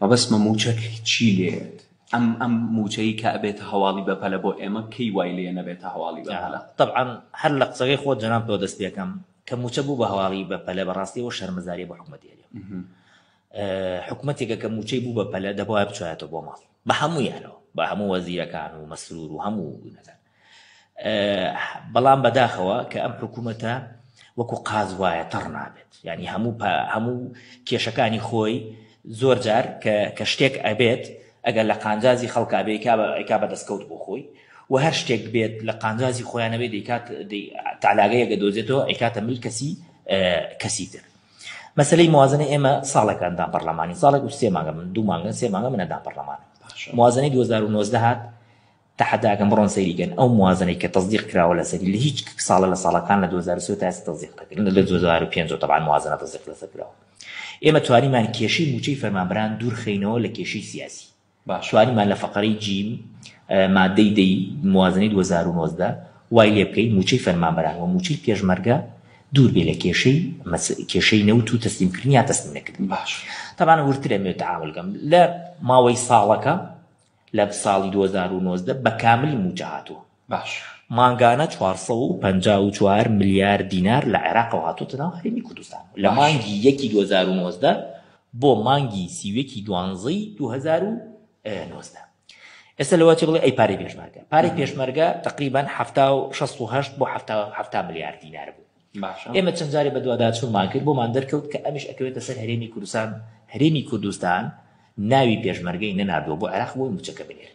مەبەستمە مووچە چی لێت؟ ئەم ئەم مووچەی کە ئەبێتە هەواڵی بەپەلە بۆ ئێمە کەی وای لێ نەبێتە هەواڵی بەپەلە؟ تەبعەن هەر لە قسەکەی خۆت جەناب تۆ دەست پێکەم کە مووچە بوو بە هەواڵی بەپەلە بەڕاستی و شەرمەزاریە بۆ حکومەتی هەرێم حکومەتێکە کە مووچەی بوو بەپەلە دەبواە بچایەتەوە بۆ ماڵ بە هەموویانەوە بە هەموو وەزیرەکان و مەسرور و هەموو نەکەن بەڵام بەداخەوە کە ئەم حکوومەتە وەکو قاز وایە تەڕ نابێت ینی هەموو هەموو کێشەکانی خۆی زۆر جار کە شتێک ئەبێت ئەگەر لە قانجازی خەڵکابێ کا بە دەستکەوت بۆ خۆی و هەر شتێک بێت لە قانجازی خۆیانەوێ دەیکات تالاگەیەگە دۆزێتەوە ئەیکاتە مل کەسی کەسی تر مەسلەی موازنە ئێمە ساڵێکاندا پەرلەمانی ساڵێک و سێ ماگە من دوو مانگە سێ مانگە منەدا پەرلەمان موازنەی 2009 هات تەحەدا ئەکەم بڕۆن سەیری کەن ئەو موازەنەی کە تەسدیق کراوە لەسەری لە هیچ ساڵە لە ساڵەکان لە دوو هەزار و سێ تا ئێستا تەسدیق نەکرا لە دوو هەزار و پێنج تەبعەن موازەنە تەسدیق لەسەر کراوە ئێمە توانیمان کێشەی مووچەی فەرمانبەران دوور خەینەوە لە کێشەی سیاسی توانیمان لە فەقەرەی جیم مادەی دەی موازنەی 2019 وای لێ بکەین مووچەی فەرمانبەران و مووچەی پێشمەرگە دوور بێ لە کێشەی کێشەی نەوت و تەسلیمکردنی یا تەسلیم نەکردن باش تەبانە ورترە مێ تعاملگەم لە ماوەی ساڵەکە لە ساڵی دوو هەزار و نۆزدە بە کاملی مووچە هاتووە. باشە. مانگانە چوار سەد و پەنجا و چوار ملیار دینار لە عێراقەوە هاتووەتە ناو هەرێمی کوردستان. لە مانگی یەکی دوو هەزار و نۆزدە بۆ مانگی سی و یەکی دوانزەی دوو هەزار و نۆزدە. ئێستا لەوە چی بڵێ ئەی پارەی پێشمەرگە؟ پارەی پێشمەرگە تەقریبەن حەفتا و شەست و هەشت بۆ حەفتا حەفتا ملیار دینار بوو. ئێمە چەند جارێ بەدواداچوونمان کرد بۆمان دەرکەوت کە ئەمیش ئەکەوێتە سەر هەرێمی کوردستان هەرێمی کوردستان ناوی پێشمەرگەی نەناردووە بۆ عێراق بۆی موچەکە بنێر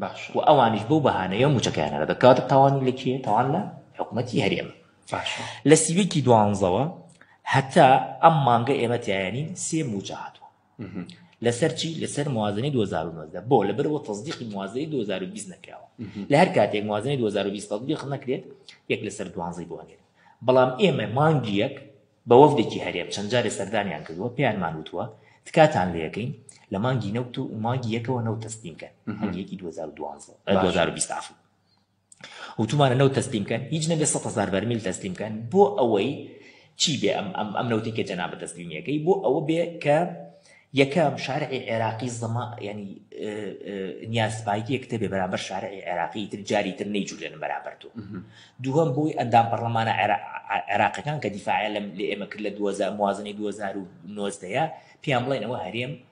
باش و ئەوانیش بەو بەهانەیە موچەکەیانەرە دەکاتە تاوانی لە کێ تاوان لە حکوومەتی هەرێمە لە سیوێکی دوانزەوە هەتا ئەم مانگە ئێمە تایانی سێ موچە هاتووە لەسەر چی لەسەر موازنەی 2019 بۆ لەبەرەوە تەزدیقی موازنەی 2020 نەکراوە لە هەر کاتێک موازنەی 2020 تەزدیق نەکرێت یەک لەسەر دوانزەی بۆنێت بەڵام ئێمە مانگی یەک بە وەفدێکی هەرێم چەند جارێ سەردانیان کردووە پێیانمان وتووە تکاتان لەکەین لە مانگی نەوت و مانگی یەکەوە نەوت تەسلیمکەن مانگیەکی 2012 2020 وتومانە نەوت تەسلیم کەن هیچ نەبێ سەد هەزار بەرمیل تەسلیم کەن بۆ ئەوەی چی بێ ئەم ئەم ئەم نەوتی کە جەنابە تەسلیمیەکەی بۆ ئەوە بێ کە یەکەم شارعی عێراقی زەما ینی نیازپایکی کتێبێ بەرامبەر شارعی عێراقی تر جاری تر نەیجوولێن بەرامبەر تۆ دووەم بۆی ئەندام پەرلەمانە عێراقەکان کە دیفاعە لەم لە ئێمە کرد لە 2000 موازنەی 2009 پێیان بڵێنەوە هەرێم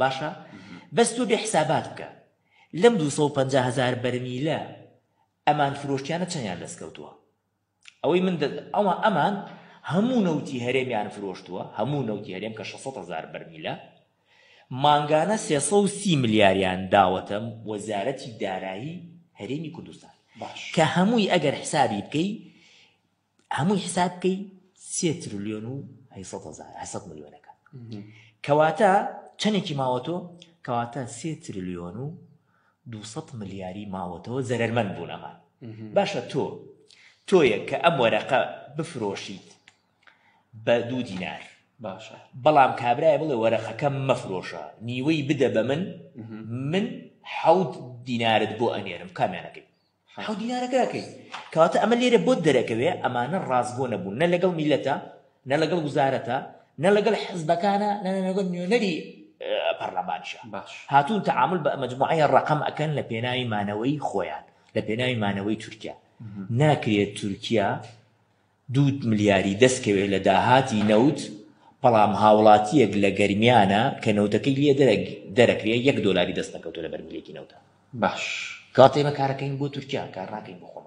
باشە بەس تۆ بێ حسابات بکە لەم دوو سەد و پەنجا هەزار بەرمیلە ئەمان فرۆشتیانە چەندیان دەست کەوتووە ئەوەی من ئەوە ئەمان هەموو نەوتی هەرێمیان فرۆشتووە هەموو نەوتی هەرێم کە 600 هزار بەرمیلە مانگانە 330 ملیاریان داوەتەم وەزارەتی دارایی هەرێمی کوردستان کە هەمووی ئەگەر حسابی بکەی هەمووی حساب بکەی سێ ترلیۆن و هەیسەد ملیۆنەکە کەواتە چەندێکی ماوەتۆ کەواتە سێ ترلیۆن و دو ملیاری ماوەتەوە زەرمەند بوونەمان باشە تۆ تۆیە کە ئەم وەرەقە بفرۆشیت بە دوو دینار باشە بەڵام کابرای بڵێ وەرەقەکەم مەفرۆشە نیوەی بدە بە من من حەوت دینارت بۆ ئەنێرم کامیانەکەی حەو دینارە کاکەی کەواتە ئەمە لێرە بۆت دەرەکەوێ ئەمانە ڕاستگۆ نەبوون نە لەگەڵ میلەتە نە لەگەڵ وزارەتە نە لەگەڵ حزبەکانە نە لەگەڵ نوێنەری پەرلەمانشە باش هاتوون تعامل بە مجموعەیە ڕقم ئەکەن لە پێناوی مانەوەی خۆیان لە پێناوی مانەوەی تورکیا ناکرێت تورکیا دوو ملیاری دەستکەوێت لە داهاتی نەوت، بەڵام هاوڵاتییەک لە گەرمیانە کە نەوتەکەی لێ دەرەکرێ یەک دۆلاری دەستنەکەوتووە لە بەرمیلێکی نەوتا. باش کاتێ بە کارەکەین بۆ تورکیا کار ناکەین بۆ خۆمان.